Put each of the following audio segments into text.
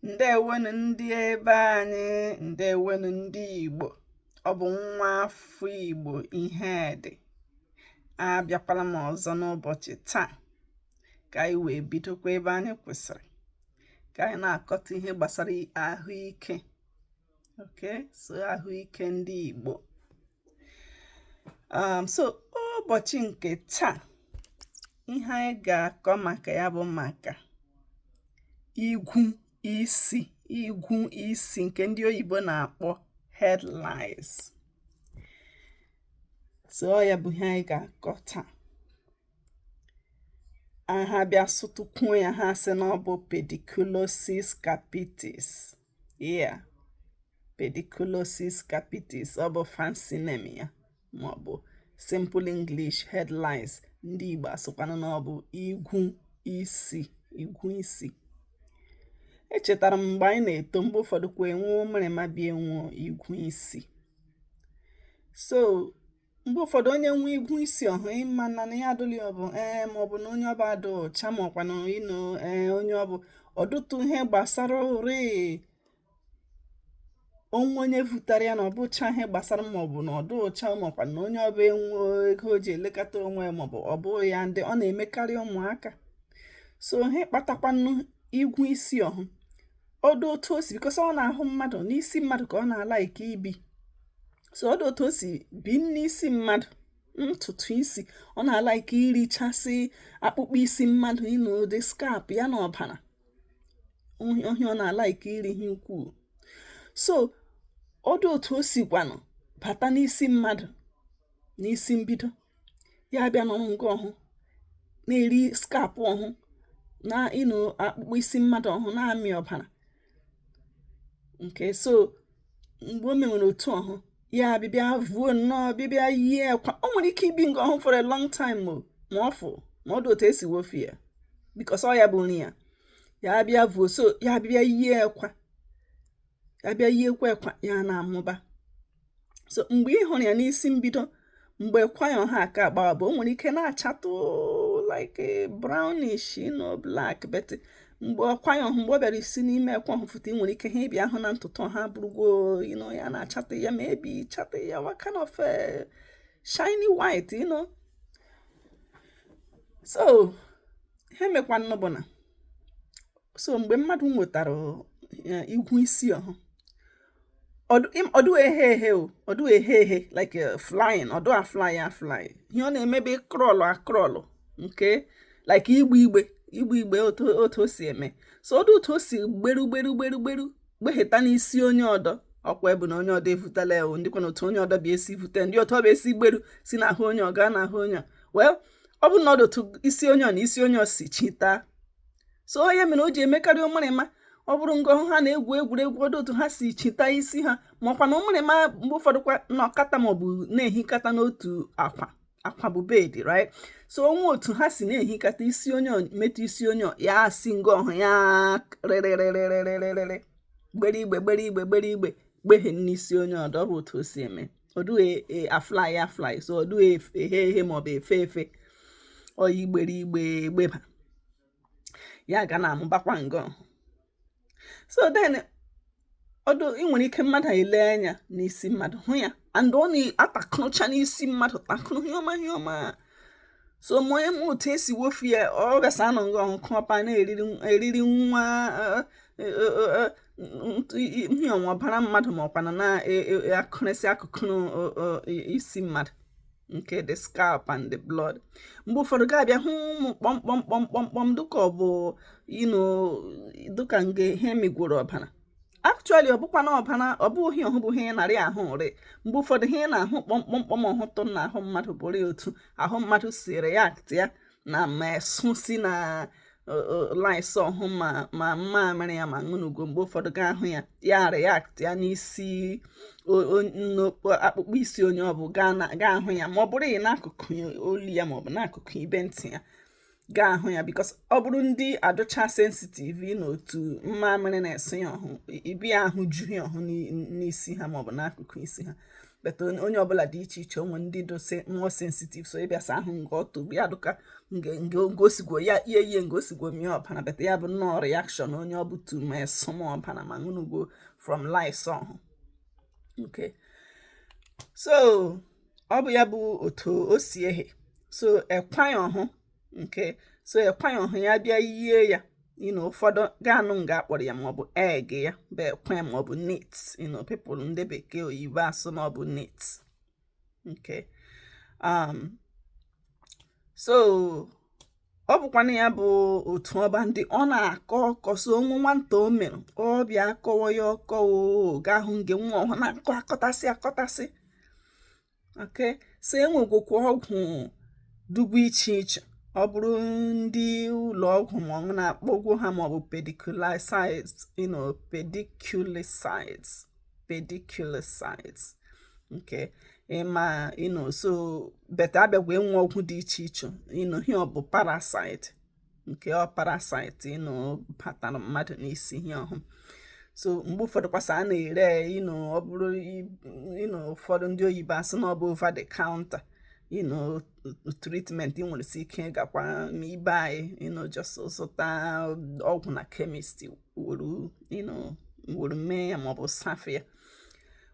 ǹdeèwonù ndị ebe anyị ǹdeèwonù ndị ìgbò ọ bụ̀ nwa afọ ìgbò Ihedị abịakwala m ọ̀zọ n'ụbọ̀chị̀ taa kà anyị wèe bidokwa ebe anyị kwụsịrị kà anyị na-àkọta ihe gbàsara àhụike okay so ahụike ndị Igbo um, so ụbọchị nke taa ihe anyị ga-akọ maka ya bụ maka igwu isi igwu isi nke ndị oyibo na-akpọ head lice so ya bụ ihe anyị ga-akọ taa aha bịa sụtụkwuo ya ha sị na ọ bụ pediculosis capitis yeah pediculosis capitis ọ bụ fancy name ya maọbụ simple English head lice ndị Igbo asụkwanụ na ọ bụ igwu isi igwu isi echetara m mgbe anyị na-eto mgbe ụfọdụ kwa enwuo mịrịma bịa enwuo igwu isi so mgbe ụfọdụ onye nwe igwu isi ọhụ ịma na na ya adụli ọbụ ee ma ọ bụ na onye ọ bụ adụ ọcha ma ọkwa na you know ee onye ọ bụ ọ dụtụ ihe gbasara ụrị onwe onye vụtara ya na ọ bụcha ihe gbasara ma ọ bụ na ọ dụ ọcha ma ọkwa na onye ọ bụ enwe ego o ji elekọta onwe ya ma ọ bụ ọ bụ ya ndị ọ na-emekarị ụmụaka so ihe kpatakwanụ igwu isi ọhụ ọ dụ otu o si because ọ n'ahụ mmadụ n'isi mmadụ ka ọ na-alike ibi so ọ dụ otu o si bi n'isi mmadụ ntutu isi ọ na-alike irichasị akpụkpọ isi mmadụ you know the scalp ya na ọbara ọ ihe ọ na-alike iri ihe ukwuu so ọ dụ otu o sikwanụ bata n'isi mmadụ n'isi mbido ya bịa nọrọ nga ọhụ na-eri scalp ọhụ na you know akpụkpọ isi mmadụ ọhụ na-amị ọbara okay so mgbe o mewere otu ọhụ ya bịbịa vuo nnọọ bịbịa yie akwa o nwere ike ibi nga ọhụ for a long time o ma ọ fụ ma ọ dụ otu e si wofu ya because ọ ya bụ nri ya ya bịa vuo so ya bịbịa yie akwa ya bịa yiekwa akwa ya na-amụba so mgbe ị hụrụ ya n'isi mbido mgbe ekwa ya ọhụ aka agbawa bụ o nwere ike na-achatụ like brownish you know black but mgbe ekwa ya ọhụ mgbe ọ bịara isi n'ime ekwa ọhụ fụta ị nwere ike ha ịbịa ahụ na ntutu ọhụ abụrụgo you know ya na-achatụ ya maybe chatụ ya what kind of eh, shiny white you know so ihe mekwanụ bụ na so mgbe mmadụ nwetara eh, igwu isi ọhụ ọdụ ehe ehe o ọdụ ehe ehe like uh, flying ọdụ a fly a fly ihe ọ na-eme bụ crawl a crawl nke like igbe igbe igbe igbe otu o si eme so ọ dụ otu o si gberu gberu gberu gberu gbeheta n'isi onye ọdọ ọkwa ebu na onye ọdọ evutela ewu ndịkwa na otu onye ọdọ bụ esi vute ndị otu ọ bụ esi gberu si n'ahụ onye ọ gaa n'ahụ onye well ọ bụ na ọ dụ otu isi onye ọ na isi onye ọ si chita so ọ ya mere o ji emekarị ụmụrịma ọ bụrụ nga ọhụ ha na-egwu egwuregwu ọ dụ otu ha si chita isi ha ma ọkwa na ụmụrịma mgbe ụfọdụ kwa nọkata maọbụ na-ehikata n'otu akwa akwa bụ bed right so o nwe otu ha si na-ehikata isi onye metụ isi onye ya si nga ọhụ ya rịrịrịrịrịrịrịrị gbere igbe gbere igbe gbere igbe gbehie n'isi onye ọdọ ọ bụ otu o si eme ọdụ a fly e, a fly so ọdụ ehe ehe maọbụ efe efe oyi igbere igbe egbeba ya ga na-amụbakwa ngọ so then ọdụ ị nwere ike mmadụ ele anya n'isi mmadụ hụ ya and ọ na-atakụrụcha n'isi mmadụ takụrụ ihe ọma ihe ọma so ma onye ma otu e si wofu ya ọ gasa anọ ngọ ọhụ ọpa na-eriri nwa ihe ọnwa ọbara mmadụ ma ọkwana na-akụrịsị e, e, akụkụ isi mmadụ nke the scalp and the blood mgbe ụfọdụ ga-abịa hụ ụmụ kpọmkpọm kpọmkpọm dịka ọ bụ dịka nge ihe migworo ọbara actually ọ bụkwa na ọbara ọ bụghị ọhụ bụ ihe na-eri ahụ eri mgbe ụfọdụ ihe a na-ahụ kpọmkpọmkpọm ọhụtụ n'ahụ mmadụ bụrụ otu ahụ mmadụ si react ya na ma esu si na lice ọhụ ma ma mmamịrị ya ma ṅụnugo mgbe ụfọdụ ga ahụ ya ya react ya n'isi akpụkpọ isi onye ọ bụ ga-ahụ ya ma ọ bụrụ n'akụkụ olu ya ma ọ bụ n'akụkụ ibe ntị ya ga-ahụ ya because ọ bụrụ ndị adụcha sensitive na otu mmamịrị na esu ya ọhụ ị bịa hụ ju ya ọhụ n'isi ha maọbụ n'akụkụ isi ha but onye ọbụla dị iche iche o nwe ndị dụsa more sensitive so ịbịasa ahụ nga ọtụ ya dụka ngosigwo ya ihe ihe ngosigwo mie ọbara but ya bụ nnọọ reaction onye ọ bụ to ma esu ma ọbara ma ṅụnugwo from lice ọhụ okay so ọ bụ ya bụ otu o si ehe so ekwa ọhụ okay so ekwa ọhụ ya bịa yie ya you know ụfọdụ ga-anụ nga a kpọrọ ya maọbụ egg ya bụ ekwa maọbụ nit you know people ndị bekee oyibo asụ na ọ bụ nit okay um, so ọ bụkwanụ ya bụ otu ọba ndị ọ na-akọ ọkọ so o nwe nwata o mere ọ bịa akọwa ya ọkọ ga-ahụ nge nwa ọhụ na-akọ akọtasị akọtasị okay so enwegwokwa ọgwụ dugwu iche iche ọ bụrụ ndị ụlọ ọgwụ ma ọ na-akpọgwo ha maọbụ pediculicides you know pediculicides pediculicides okay ịma you know so but abịagwa enwe ọgwụ dị iche iche you know ihe ọ bụ parasite nke ọ parasite you know batara mmadụ n'isi ihe ọhụ so mgbe ụfọdụ kwasa a na-ere you know ọ bụrụ you know ụfọdụ ndị oyibo asị na ọ bụ over the counter you know treatment ị nwere si ike gakwa n'ibe anyị you know just zụta ọgwụ na kemist wuru you know wuru mee ya maọbụ safe ya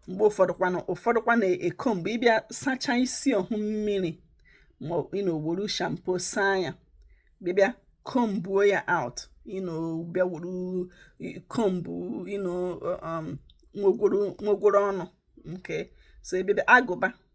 mgbe ụfọdụkwanụ ụfọdụkwa na-eko mgbe ị bịa sachaa isi ọhụ mmiri ma you know wuru shampoo saa ya bịa kombuo ya out you know bịa wuru kombu you know um, nwogworo ọnụ okay so ebe agụba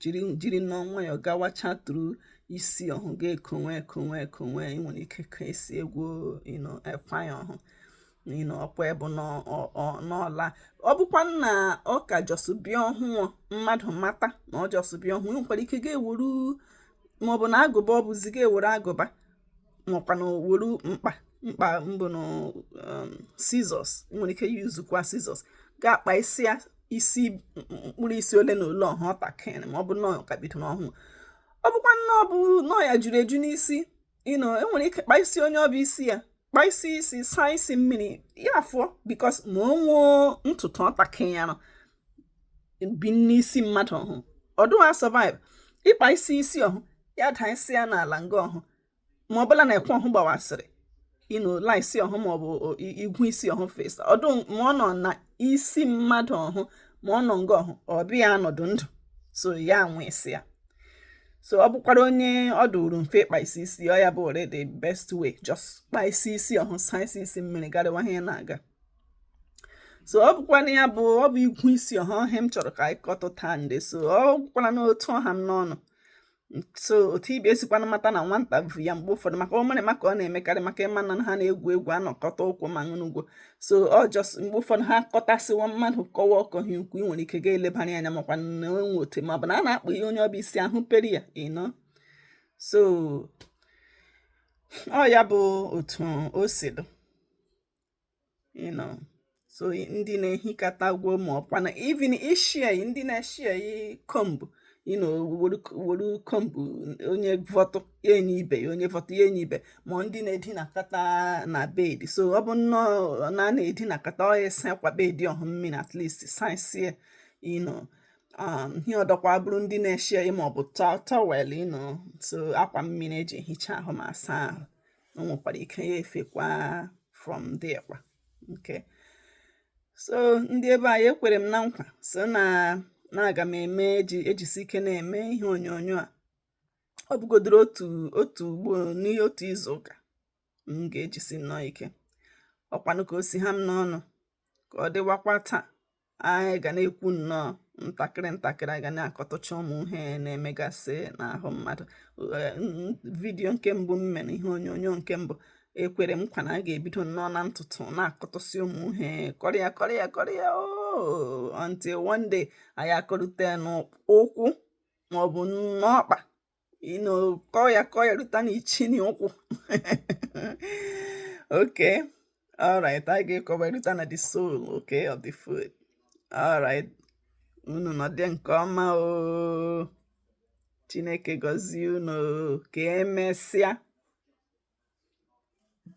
jiri jiri you know nwayọọ gawachatụrụ isi ọhụ ga-ekonwe ekonwe ekonwe ị nwere ike ka esi igwu you know ekwa ya ọhụ you know ọkwa ịbụ n'ọla ọ bụkwa na ọ ka just bịa ọhụụ mmadụ mata na ọ just bịa ọhụụ nwekwara ike ga-ewuru maọbụ na agụba ọ bụzi ga-ewuru agụba nwekwanụ were mkpa mkpa maọbụ na um, scissors nwere ike yuzukwa scissors ga-akpa isi ya isi mkpụrụ isi ole na ole ọhụ ọtakịrị ma ọ bụ na ọ ka bido n'ọhụụ ọ bụkwanụ ọ bụ na ọ ya juru eju n'isi you know e nwere ike kpa isi onye ọbụ isi ya kpa isi isi saa isi mmiri ya afụọ because ma o nwee ntutu ọtakịrị ya nọ bi n'isi mmadụ ọhụ ọ dụghị survive ịkpa isi isi ọhụ ya daa isi ya n'ala nga ọhụ ma ọbụla na ekwa ọhụ gbawasịrị you know lice ọhụ maọbụ igwu isi ọhụ fesa ọdụ ma ọ nọ na isi mmadụ ọhụ ma ọ nọ nga ọhụ ọ bịa anọdụ ndụ so ya nwụsị ya so ọ bụkwara onye ọ dụrụ mfe ịkpa isi isi ọ ya bụ ore the best way just kpa isi isi ọhụ saa isi isi mmiri garịwa ihe na-aga so ọ bụkwana ya bụ ọ bụ igwu isi ọhụ ọ ihe m chọrọ ka anyị kọtụta ndị so ọ gwụkwara n'otu ọ ha m n'ọnụ so otu ibe esikwana mata na nwata bu ya mgbe ụfọdụ maka ụmụrịma ka ọ na-emekarị maka ị ma na ha na-egwu egwu anọkọta ukwu ma ṅụnụgwo so ọ just mgbe ụfọdụ ha kọtasịwa mmadụ kọwa ọkọ hi ukwu ị nwere ike ga-elebara anya makwa na enwe otu ma ọ bụ na a na-akpa ihe onye ọbụ isi ahụperi ya you know so ọ ya bụ otu o si dụ you know so ndị na-ehikọta gwo ma ọkwa na even share ndị na-eshare kombu you know were kombu onye vọtụ ya enye ibe ya onye vọtụ ya enye ibe ma ndị na-edinakọta na bed so ọ bụ nnọọ na a na-edinakọta a saa akwa bed ọhụ mmiri at least saisie you know Um, ihe ọdọkwa bụrụ ndị na-eshare maọbụ towel you know so akwa mmiri eji ehicha ahụ ma asa ahụ o nwekwara ike ya efekwa from there kwa okay so ndị be anyị ekwere m na nkwa sị na na aga m eme eji ejisi ike na-eme ihe onyonyo a ọ bụgodoro otu otu ugbo n'ime otu izu ụka m ga-ejisi nnọọ ike ọkwanụ ka o si ha m n'ọnụ ka ọ dịwakwa taa anyị ga na-ekwu nnọọ ntakịrị ntakịrị anyị ga na-akọtụcha ụmụ ihe na-emegasị n'ahụ mmadụ video nke mbụ m mere ihe onyonyo nke mbụ ekwere m nkwa na a ga-ebido nnọọ na ntutu na-akọtụsị ụmụ ihe kọrịa kọrịa kọrịa oh, until one day anyị akọrute n'ụkwụ maọbụ n'ọkpa ịnọ kọọ ya kọọ ya ruta n'ichiri ụkwụ okay all right anyị ga-akọruta na the sole okay of the foot all right unu nọdị nke ọma o chineke gọzie unu ka emesịa